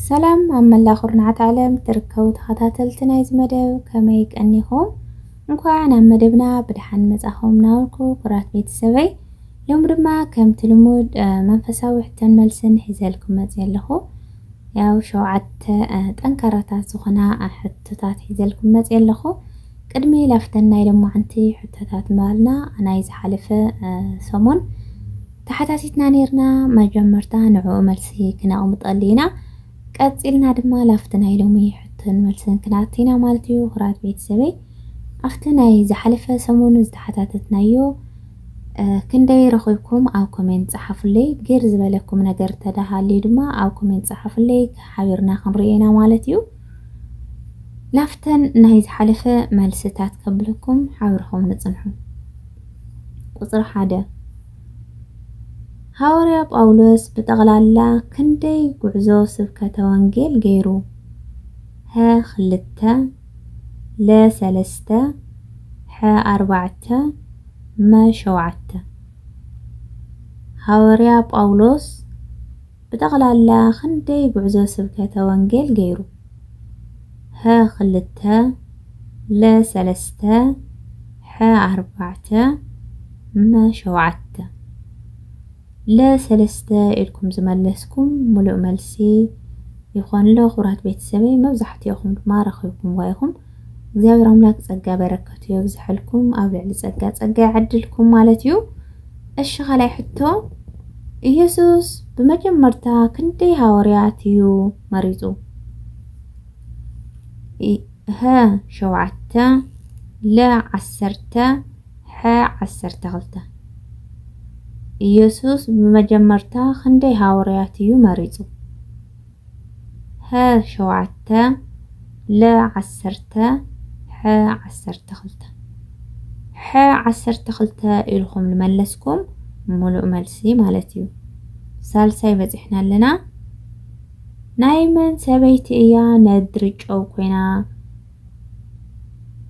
ሰላም ኣብ መላእ ኩርናዓት ዓለም ትርከቡ ተኸታተልቲ ናይዚ መደብ ከመይ ቀኒኹም እንኳዕ ናብ መደብና ብድሓን መጻኹም ናበልኩ ኩራት ቤተሰበይ ሎም ድማ ከምቲ ልሙድ መንፈሳዊ ሕቶን መልስን ሒዘልኩም መጽየ ኣለኹ ያው ሸውዓተ ጠንካራታት ዝኾና ሕቶታት ሒዘልኩም መጽየ ኣለኹ ቅድሚ ላፍተን ናይ ሎማዓንቲ ሕቶታት ምባልና ናይ ዝሓለፈ ሰሙን ተሓታቲትና ኔርና መጀመርታ ንዕኡ መልሲ ክነቅምጠሉ ኢና ቀጺልና ድማ ላፍቲ ናይ ሎሚ ሕቶን መልስን ክንኣቲ ኢና ማለት እዩ ክራት ቤተሰበይ ኣብቲ ናይ ዝሓለፈ ሰሙን ዝተሓታተትናዮ ክንደይ ረኺብኩም ኣብ ኮሜንት ጸሓፉለይ ግር ዝበለኩም ነገር ተዳሃልዩ ድማ ኣብ ኮሜንት ጸሓፉለይ ሓቢርና ክንሪኦ ኢና ማለት እዩ ላፍተን ናይ ዝሓለፈ መልስታት ከብልኩም ሓብርኹም ንጽንሑ ቁጽሪ ሓደ፣ ሃዋርያ ጳውሎስ ብጠቕላላ ክንደይ ጉዕዞ ስብከተ ወንጌል ገይሩ? ሀ ክልተ፣ ለ ሰለስተ፣ ሐ ኣርባዕተ፣ መ ሸውዓተ። ሃዋርያ ጳውሎስ። ብጠቕላላ ክንደይ ጉዕዞ ስብከተ ወንጌል ገይሩ? ሀ ክልተ፣ ለ ሰለስተ፣ ሐ ኣርባዕተ፣ መ ሸውዓተ። ለ ሰለስተ ኢልኩም ዝመለስኩም ምሉእ መልሲ ይኾን ኣሎ ክቡራት ቤተሰበይ፣ መብዛሕቲኦኹም ድማ ረኺብኩምዋ ኢኹም። እግዚኣብሔር ኣምላክ ጸጋ በረከቱ የብዝሐልኩም ኣብ ልዕሊ ጸጋ ጸጋ ይዓድልኩም ማለት እዩ እሺ ካልኣይ ሕቶ ኢየሱስ ብመጀመርታ ክንደይ ሃዋርያት እዩ መሪጹ ሀ ሸውዓተ ለ ዓሰርተ ሐ ዓሰርተ ክልተ ኢየሱስ ብመጀመርታ ክንደይ ሃዋርያት እዩ መሪጹ ሀ ሸውዓተ ለ ዓሰርተ ሐ ዓሰርተ ክልተ ሐ ዓሰርተ ክልተ ኢልኹም ልመለስኩም ሙሉእ መልሲ ማለት እዩ። ሳልሳይ በፂሕና ኣለና። ናይ መን ሰበይቲ እያ ነድሪ ጨው ኮይና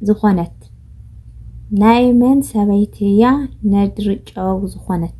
ዝኾነት? ናይ መን ሰበይቲ እያ ነድሪ ጨው ዝኾነት?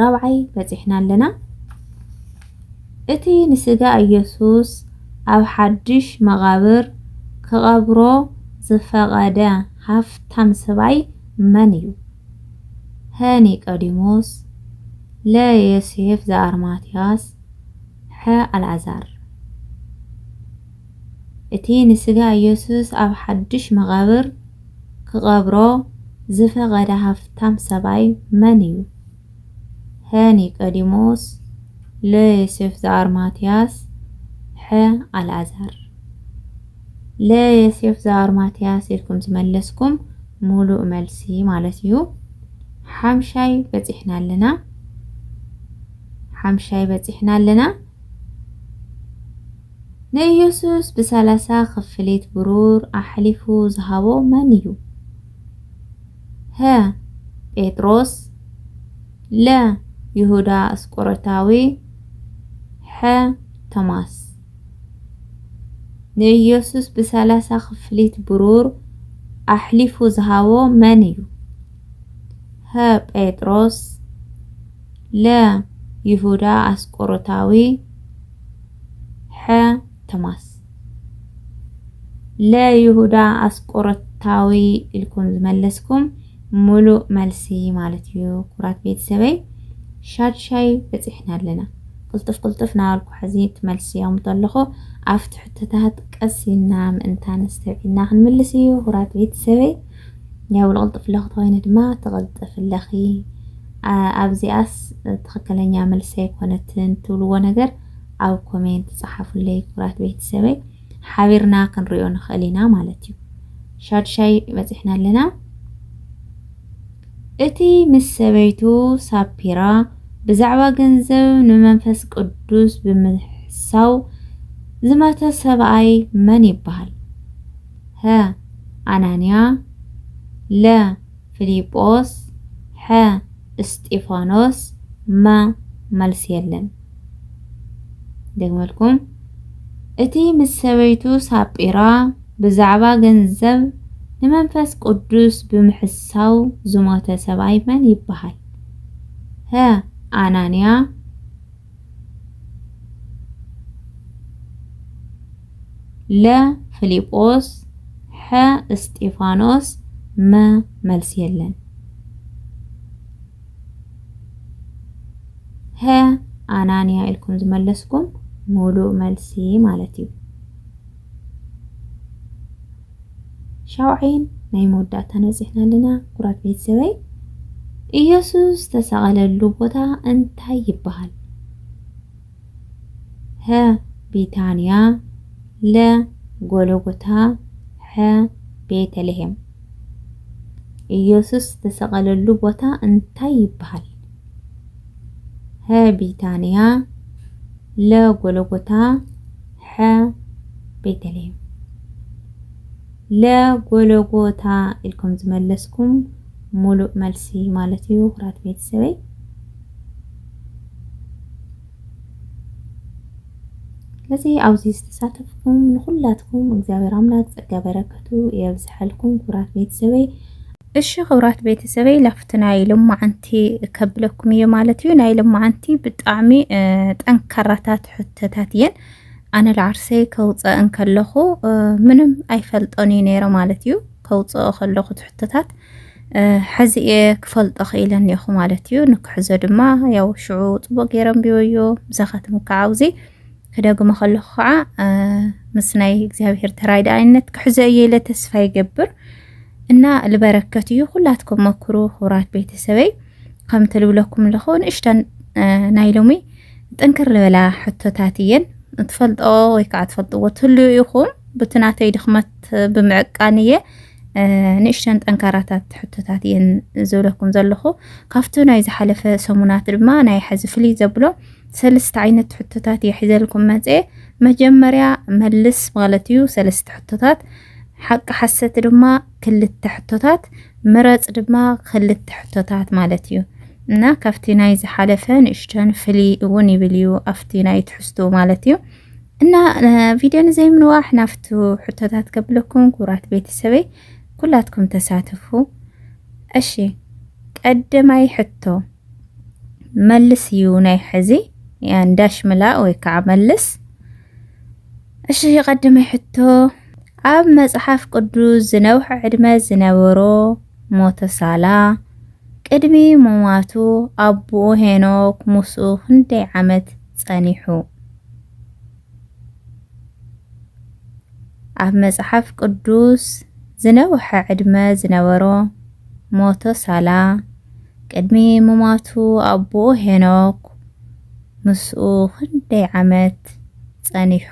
ራብዓይ በጺሕና ኣለና። እቲ ንስጋ ኢየሱስ ኣብ ሓድሽ መቓብር ክቐብሮ ዝፈቐደ ሃፍታም ሰብኣይ መን እዩ? ሀ ኒቆዲሞስ፣ ለ ዮሴፍ ዘኣርማትያስ፣ ሐ ኣልኣዛር። እቲ ንስጋ ኢየሱስ ኣብ ሓድሽ መቓብር ክቐብሮ ዝፈቐደ ሃፍታም ሰብኣይ መን እዩ? ሀ። ኒቆዲሞስ ለ። ዮሴፍ ዘኣርማትያስ ሐ። ኣልኣዛር ለ። ዮሴፍ ዘኣርማትያስ ኢልኩም ዝመለስኩም ሙሉእ መልሲ ማለት እዩ። ሓምሻይ በፂሕና ኣለና ሓምሻይ በፂሕና ኣለና። ንኢየሱስ ብሰላሳ ክፍሊት ብሩር ኣሕሊፉ ዝሃቦ መን እዩ? ሀ። ጴጥሮስ ለ። ይሁዳ እስቆሮታዊ ሐ። ቶማስ ንኢየሱስ ብሰላሳ ክፍሊት ብሩር ኣሕሊፉ ዝሃቦ መን እዩ? ሀ። ጴጥሮስ ለ። ይሁዳ ኣስቆሮታዊ ሐ ቶማስ ለ ይሁዳ ኣስቆሮታዊ ኢልኩም ዝመለስኩም ሙሉእ መልሲ ማለት እዩ። ኩራት ቤተሰበይ ሻድሻይ በፂሕና ኣለና። ቅልጡፍ ቅልጡፍ ናበልኩ ሕዚ ትመልስዮም ተለኹ ኣብቲ ሕቶታት ቀስ ኢልና ምእንታን ኣስተብዒልና ክንምልስ እዩ። ኩራት ቤተሰበይ ያው ልቕልጥፍለኺ ተኮይነ ድማ ትቕልጥፍለኺ ኣብዚኣስ ትክክለኛ መልሲ ኣይኮነትን ትብልዎ ነገር ኣብ ኮሜንት ጸሓፉለይ ክብራት ቤተሰበይ ሓቢርና ክንሪኦ ንክእል ኢና ማለት እዩ ሻዱሻይ በጺሕና ኣለና እቲ ምስ ሰበይቱ ሳፒራ ብዛዕባ ገንዘብ ንመንፈስ ቅዱስ ብምሕሳው ዝመተ ሰብኣይ መን ይበሃል? ሀ ኣናንያ ለ ፍሊጶስ ሐ እስጢፋኖስ መ መልሲ የለን ደግመልኩም እቲ ምስ ሰበይቱ ሳጲራ ብዛዕባ ገንዘብ ንመንፈስ ቅዱስ ብምሕሳው ዝሞተ ሰብኣይ መን ይበሃል? ሀ ኣናንያ ለ ፍሊጶስ ሐ እስጢፋኖስ መ መልስ የለን ሀ ኣናንያ ኢልኩም ዝመለስኩም ሙሉእ መልሲ ማለት እዩ። ሻውዓይን ናይ መወዳእታን በጺሕና ኣለና ኩራት ቤተሰበይ። ኢየሱስ ዝተሰቐለሉ ቦታ እንታይ ይበሃል? ሀ ቢታንያ ለ ጎሎጎታ ሐ ቤተልሔም ኢየሱስ ዝተሰቐለሉ ቦታ እንታይ ይበሃል? ሀ ቢታንያ ለ ጎሎጎታ ሐ ቤተልሔም ለ ጎለጎታ ኢልኩም ዝመለስኩም ሙሉእ መልሲ ማለት እዩ ኩራት ቤተሰበይ ስለዚ ኣብዚ ዝተሳተፍኩም ንኩላትኩም እግዚኣብሔር ኣምላክ ጸጋ በረከቱ የብዝሐልኩም ኩራት ቤተሰበይ እሺ ክብራት ቤተሰበይ ላፍቲ ናይ ሎማዓንቲ ከብለኩም እየ ማለት እዩ ናይ ሎማዓንቲ ብጣዕሚ ጠንካራታት ሕቶታት እየን ኣነ ለዓርሰይ ከውፀእ እንከለኹ ምንም ኣይፈልጦን እዩ ነይረ ማለት እዩ ከውፅኦ ከለኹ ትሕቶታት ሕዚ እየ ክፈልጦ ክኢለ እኒኹ ማለት እዩ ንክሕዞ ድማ ያው ሽዑ ፅቡቅ ገይረ ንቢበዮ ምሳኻትም ከዓ ክደግሞ ከለኹ ከዓ ምስ ናይ እግዚኣብሔር ተራዳኢነት ክሕዞ እየ ኢለ ተስፋ ይገብር እና ልበረከት እዩ ኩላትኩም መክሩ ክቡራት ቤተሰበይ ከምቲ ልብለኩም ኣለኹ ንእሽተን ናይ ሎሚ ጥንክር ልበላ ሕቶታት እየን ትፈልጦ ወይ ከዓ ትፈልጥዎ ትህልዩ ኢኹም ብቲ ናተይ ድኽመት ብምዕቃን እየ ንእሽተን ጠንካራታት ሕቶታት እየን ዝብለኩም ዘለኹ ካብቲ ናይ ዝሓለፈ ሰሙናት ድማ ናይ ሐዚ ፍልይ ዘብሎ ሰለስተ ዓይነት ሕቶታት እየ ሒዘልኩም መፅኤ። መጀመርያ መልስ ማለት እዩ ሰለስተ ሕቶታት፣ ሓቂ ሓሰት ድማ ክልተ ሕቶታት፣ ምረፅ ድማ ክልተ ሕቶታት ማለት እዩ እና ካብቲ ናይ ዝሓለፈ ንእሽተን ፍሊ እውን ይብል እዩ ኣብቲ ናይ ትሕዝቱ ማለት እዩ እና ቪድዮ ንዘይምንዋሕ ናብቲ ሕቶታት ከብለኩም ክቡራት ቤተሰበይ ኩላትኩም ተሳተፉ። እሺ ቀደማይ ሕቶ መልስ እዩ ናይ ሕዚ ያን ዳሽ ምላእ ወይ ከዓ መልስ። እሺ ቀድመይ ሕቶ ኣብ መጽሓፍ ቅዱስ ዝነውሐ ዕድመ ዝነበሮ ሞተሳላ ቅድሚ ምሟቱ ኣቦኡ ሄኖክ ምስኡ ክንደይ ዓመት ጸኒሑ? ኣብ መጽሓፍ ቅዱስ ዝነውሐ ዕድመ ዝነበሮ ሞተሳላ ቅድሚ ምሟቱ ኣቦኡ ሄኖክ ምስኡ ክንደይ ዓመት ጸኒሑ?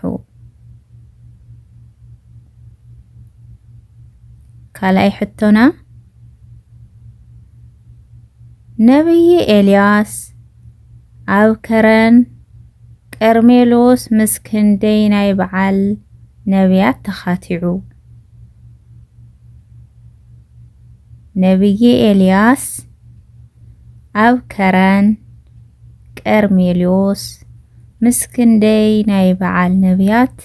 ካልኣይ ሕቶና ነብዪ ኤልያስ ኣብ ከረን ቀርሜሎስ ምስ ክንደይ ናይ በዓል ነብያት ተኻቲዑ? ነብዪ ኤልያስ ኣብ ከረን ቀርሜሎስ ምስ ክንደይ ናይ በዓል ነብያት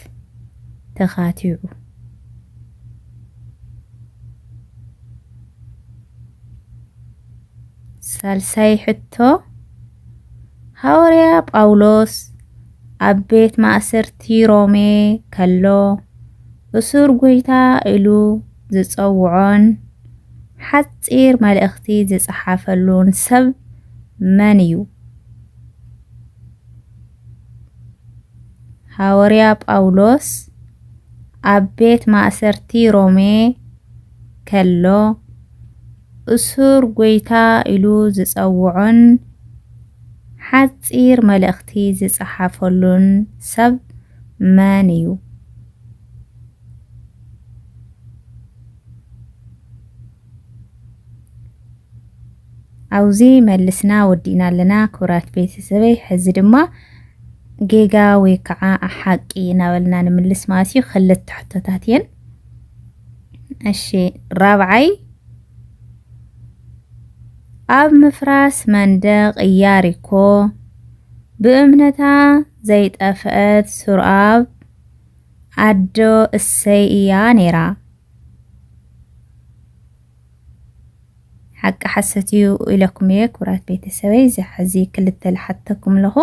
ተኻቲዑ። ሳልሳይ ሕቶ ሃዋርያ ጳውሎስ ኣብ ቤት ማእሰርቲ ሮሜ ከሎ እሱር ጐይታ ኢሉ ዝጸውዖን ሓጺር መልእኽቲ ዝጸሓፈሉን ሰብ መን እዩ? ሃወርያ ጳውሎስ ኣብ ቤት ማእሰርቲ ሮሜ ከሎ፣ እሱር ጐይታ ኢሉ ዝጸውዖን ሓጺር መልእኽቲ ዝጸሓፈሉን ሰብ መን እዩ? ኣብዚ መልስና ወዲእና ኣለና ክብራት ቤተሰበይ። ሕዚ ድማ ጌጋ ወይ ከዓ ሓቂ እናበልና ንምልስ ማለት እዩ። ክልተ ሕቶታት እየን። እሺ ራብዓይ ኣብ ምፍራስ መንደቕ እያሪኮ ብእምነታ ዘይጠፍአት ሱርኣብ ኣዶ እሰይ እያ ነይራ። ሓቂ ሓሰት እዩ ኢለኩም እየ ክብራት ቤተሰበይ እዚ ሓዚ ክልተ ልሓተኩም ኣለኹ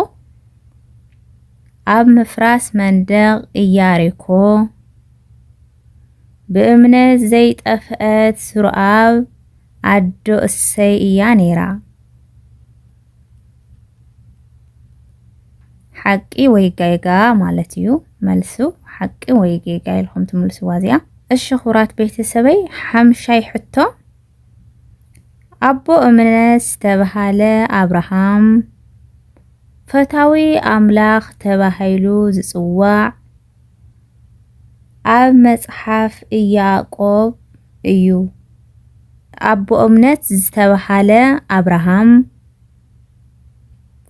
ኣብ ምፍራስ መንደቕ እያሪኮ ብእምነት ዘይጠፍአት ስሩኣብ ኣዶ እሰይ እያ ነይራ ሓቂ ወይ ጌጋ ማለት እዩ መልሱ። ሓቂ ወይ ጌጋ ኢልኩም ትምልስዋ እዚኣ። እሺ ክቡራት ቤተሰበይ ሓምሻይ ሕቶ ኣቦ እምነት ዝተባሃለ ኣብርሃም ፈታዊ ኣምላኽ ተባሂሉ ዝጽዋዕ ኣብ መጽሓፍ ኢያእቆብ እዩ። ኣቦ እምነት ዝተበሃለ ኣብርሃም፣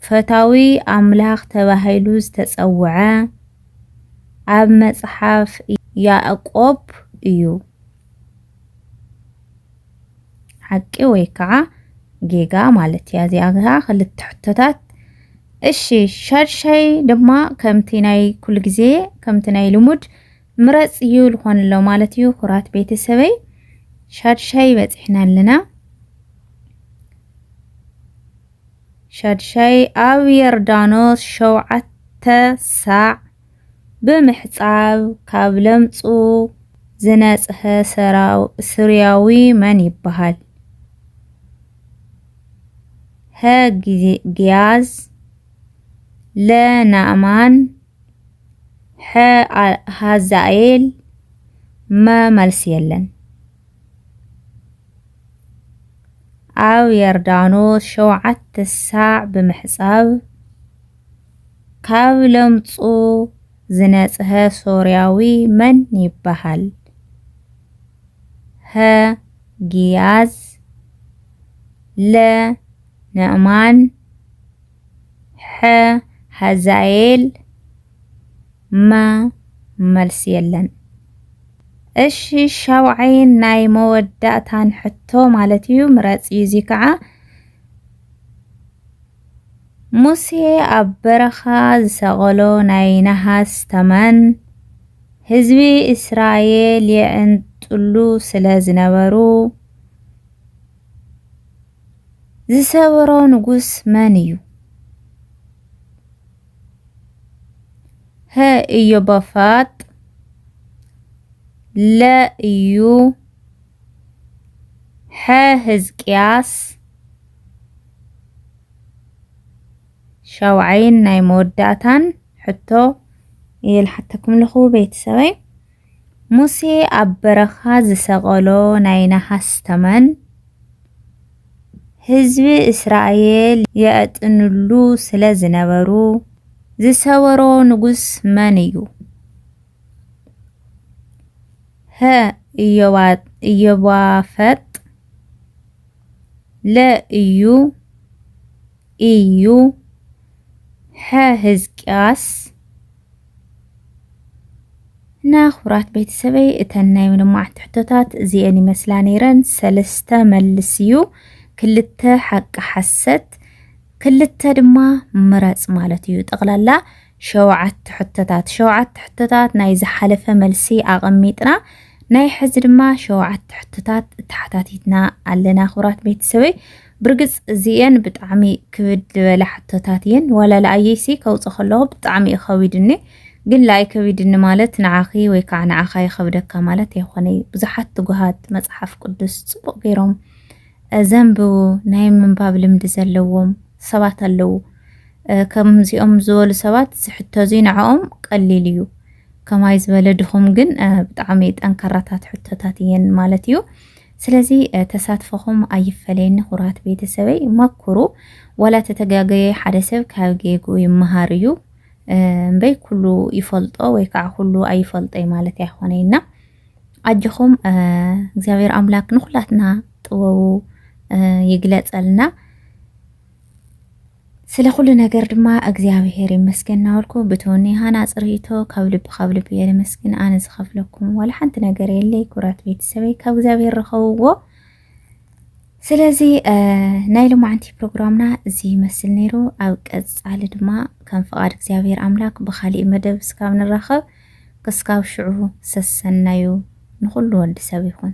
ፈታዊ ኣምላኽ ተባሂሉ ዝተጸውዐ ኣብ መጽሓፍ ኢያእቆብ እዩ። ሓቂ ወይ ከዓ ጌጋ ማለት እያ እዚኣ ከዓ ክልተ ሕቶታት እሺ ሻድሻይ ድማ ከምቲ ናይ ኩሉ ግዜ ከምቲ ናይ ልሙድ ምረፅ እዩ ልኾን ኣሎ ማለት እዩ ኩራት ቤተሰበይ ሻድሻይ በፂሕና ኣለና ሻድሻይ ኣብ የርዳኖስ ሸውዓተ ሳዕ ብምሕጻብ ካብ ለምጹ ዝነጽሀ ሱርያዊ መን ይበሃል? ሀ ጊያዝ፣ ለ ናእማን፣ ሐ ሃዛኤል፣ መ መልሲ የለን። ኣብ የርዳኖስ ሸውዓተ ሳዕ ብምሕጻብ፣ ካብ ለምጹ ዝነጽሀ ሶርያዊ መን ይበሃል? ሀ ጊያዝ ለ ነዕማን ሐ ሀዛኤል መ መልሲ የለን። እሺ ሻውዓይን ናይ መወዳእታን ሕቶ ማለት እዩ ምረጽ እዩ እዚ ከዓ ሙሴ ኣብ በረኻ ዝሰቐሎ ናይ ነሃስ ተመን፣ ህዝቢ እስራኤል የዕንጥሉ ስለ ዝነበሩ፣ ዝሰበሮ ንጉስ መን እዩ? ሀ ኢዮባፋጥ፣ ለ እዩ፣ ሐ ህዝቅያስ፣ ሻውዓይን ናይ መወዳእታን ሕቶ እየ ልሓተኩም ኣለኹ ቤተሰበይ ሙሴ ኣብ በረኻ ዝሰቐሎ ናይ ነሃስ ተመን ህዝቢ እስራኤል የዕጥንሉ ስለ ዝነበሩ ዝሰበሮ ንጉስ መን እዩ? ሀ ኢዮባፈጥ ለእዩ እዩ ሕዝቅያስ እና ክቡራት ቤተሰበይ እተን ናይ ምልማዕቲ ሕቶታት እዚአን ይመስላ ነይረን ሰለስተ መልስ እዩ ክልተ ሓቂ ሓሰት ክልተ ድማ ምረፅ ማለት እዩ ጠቕላላ ሸውዓተ ሕቶታት ሸውዓተ ሕቶታት ናይ ዝሓለፈ መልሲ ኣቐሚጥና ናይ ሕዚ ድማ ሸውዓተ ሕቶታት ተሓታቲትና ኣለና ክብራት ቤተሰበይ ብርግጽ እዚኤን ብጣዕሚ ክብድ ዝበላ ሕቶታት እየን ዋላ ለኣየይሲ ከውፅ ከለኹ ብጣዕሚ እዩ ከቢድኒ ግን ለኣይ ከቢድኒ ማለት ንዓኺ ወይ ከዓ ንዓኻ ይኸብደካ ማለት ኣይኮነ እዩ ብዙሓት ትጉሃት መፅሓፍ ቅዱስ ፅቡቕ ገይሮም ዘንብቡ ናይ ምንባብ ልምዲ ዘለዎም ሰባት ኣለዉ ከምዚኦም ዝበሉ ሰባት ዝሕቶ እዙይ ንዕኦም ቀሊል እዩ ከማይ ዝበለ ድኹም ግን ብጣዕሚ ጠንካራታት ሕቶታት እየን ማለት እዩ ስለዚ ተሳትፎኹም ኣይፈለየኒ ኩራት ቤተሰበይ መኩሩ ዋላ ተተጋገየ ሓደ ሰብ ካብ ጌጉ ይመሃር እዩ እምበይ ኩሉ ይፈልጦ ወይ ከዓ ኩሉ ኣይፈልጦይ ማለት ኣይኮነይና ኣጆኹም እግዚኣብሔር ኣምላክ ንኩላትና ጥበቡ ይግለጸልና። ስለ ኩሉ ነገር ድማ እግዚኣብሔር ይመስገን እናበልኩ ብትውኒ ሃናፅ ርእይቶ ካብ ልቢ ካብ ልቢ እየ ኣነ ዝኸፍለኩም ዋላ ሓንቲ ነገር የለይ። ኩራት ቤተሰበይ ካብ እግዚኣብሔር ረኸብዎ። ስለዚ ናይ ሎማዓንቲ ፕሮግራምና እዚ ይመስል ነይሩ። ኣብ ቀፃሊ ድማ ከም ፍቓድ እግዚኣብሔር ኣምላክ ብካሊእ መደብ እስካብ ንራኸብ ክስካብ ሽዑ ሰሰናዩ ንኹሉ ወዲ ሰብ ይኹን።